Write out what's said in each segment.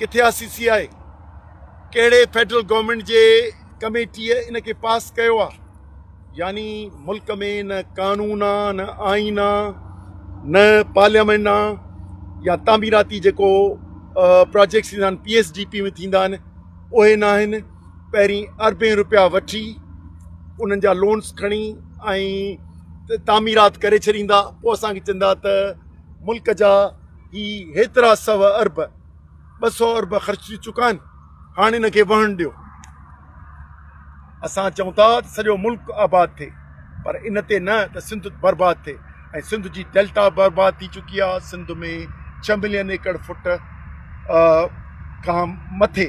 ڪٿي آ C C I? ڪهڙي فيڊرل گورنمينٽ جي ڪميٽيء ان کي پاس ڪيو آ؟ يعني ملڪ ۾ نه قانون آ، نه آئين آ، نه پارليامينٽ آ يا تعميراتي جيڪو پراجيڪٽس ٿيندا آهن پي ايس ڊي پي ۾ ٿيندا آهن اهي نه آهن پهرين اربين روپيا وٺي انهن جا لونس کڻي ۽ تعميرات ڪري ڇڏيندا پوء اسانکي چوندا ته ملڪ جا هي هيترا سو ارب، ٻه سو ارب خرچ ٿي چڪا آهن، هاڻ ان کي وهڻ ڏيو. اسان چئون ٿا ته سڄو ملڪ آباد ٿئي پر ان تي نه ته سنڌ برباد ٿئي ۽ سنڌ جي ڊيلٽا برباد ٿي چڪي آهي، سنڌ ۾ ڇهه ملين ايڪڙ فوٽ کان مٿي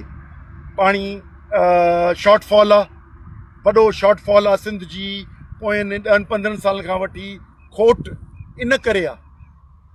پاڻي شارٽ فال آهي، وڏو شارٽ فال آهي سنڌ جي پوين ڏهن پندرهن سالن کان وٺي کوٽ ان ڪري آهي.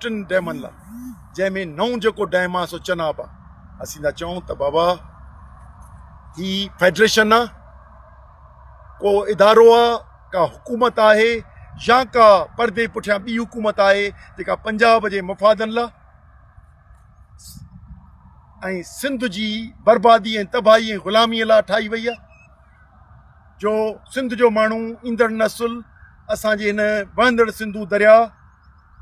ٽن ڊيمن لا جنهن ۾ نئون جيڪو ڊيم آ سو چناب آ اسين ٿا چئون ته بابا هي فيڊريشن آ ڪو ادارو آ ڪا حڪومت آهي يا ڪا پردي پٺيان ٻي حڪومت آهي جيڪا پنجاب جي مفادن لا ۽ سنڌ جي بربادي ۽ تباهي ۽ غلامي لا ٺاهي وئي آ جو سنڌ جو ماڻهو ايندڙ نسل اسان جي هن وهندڙ سنڌو دريا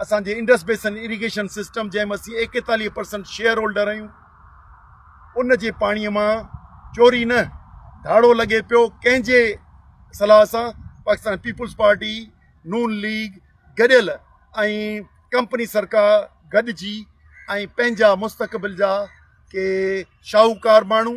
اسان جي انڊس بيسن اريگيشن سسٽم جنهن ۾ اسين ايڪيتاليهه پرسنٽ شيئر هولڊر آهيون ان جي پاڻي مان چوري نه ڌاڙو لڳي پيو ڪنهن جي صلاح سان پاڪستان پيپلز پارٽي نون ليگ گڏيل ۽ ڪمپني سرڪار گڏجي ۽ پنهنجا مستقبل جا ڪي شاهوڪار ماڻهو